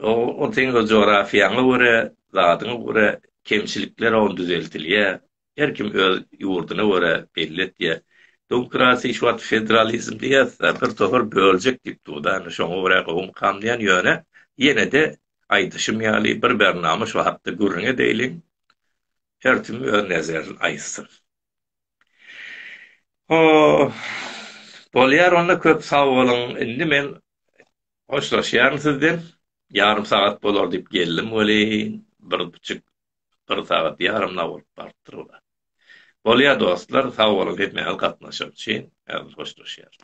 Oň seň öz jografiýaňa görä, zadyňa görä kemçilikler oň düzeltilýä. Her kim öz ýurduna görä belli etýä. Dmokratiýa şu wagt federalizm diýýäsda bir topar böljek diýip durda indi şoňa görä gowum kamlaýan ýöne ýenede aýdyşym ýaly bir bernama şu hakda gürrüň edeýliň her tim öz nezerin aýtsyn. Hoo bolýar onda köp sag boluň indi men Hoşlaşýaryn sizden, ýarym sagat bolar diýip geldim welin, bir buçuk, bir sagat ýarym nag bolup barypdyr ula. Bolýar dostlar, sag boluň hemmäňiz gatnaşan üçin, häzir hoşlaşýarys.